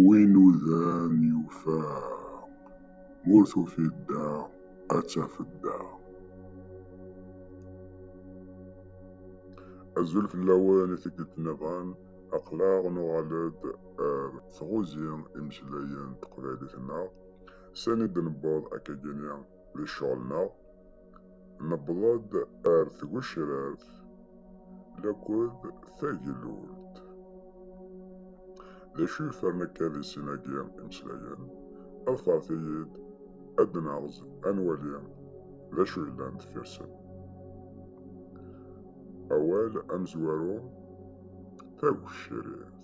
Win udan yufa, ur tufiḍ da ad tafeḍ da. Azul fell-awen i tikkelt niḍen, aql-aɣ nuɣal-d ar tɣuzi imeslayen n teqbaylit-nneɣ, sani d-newweḍ akkagi-nni di ccɣel-nneɣ. Newweḍ-d ar tgecrart laked tagellult. D acu yefren akka di sin-agi imeslayen? Ḍefret-iyi-d ad d-naɣez ad nwali d acu yellan deffir-sen. Awal amezwaru, tagecrit.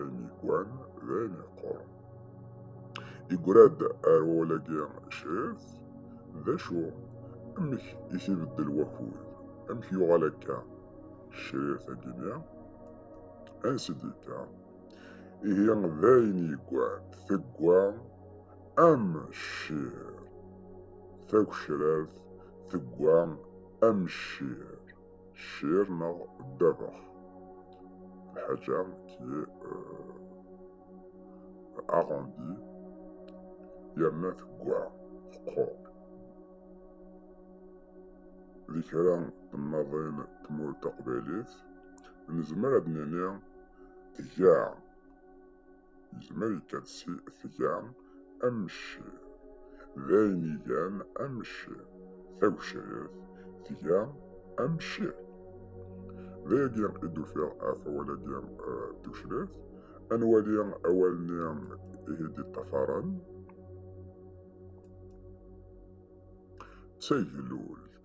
Anigan d ayen yeqquren. Yegra-d ar wawal-agi Cef, d acu? Amek i t-ibeddel wakud? Amek yuɣal akka crir tagini? Ansi d-yekka? Ihi d ayen yeggan tegga am ccir. Tagecrart tegga am ccir. Cir neɣ ddabex. Lḥaǧa ki aɣandi euh, yerna tegwa teqqur. Di kra temmaḍin tmurt taqbaylit nezmer ad nini tga Yezmer ikka tga amecci, d ayen igan amecci. Tagecrit tga amecci. D ayagi i d-ufiɣ ɣef awal-agi d tucrit. Ad nwali awal-nni ihi d-iṭṭafaren. D taglult.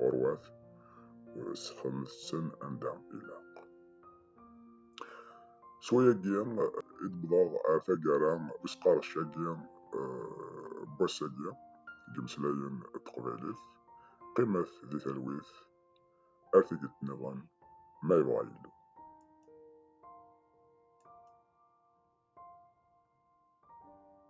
ɣur-wat sxedmet-ten anda ilaq. S wayagi i d-wwḍeɣ ar taggara n usqerdec-agi n wass-agi n yimeslayen n teqbaylit. Qqimet di talwit, ar tikkelt nniḍen ma yebɣa Yillu.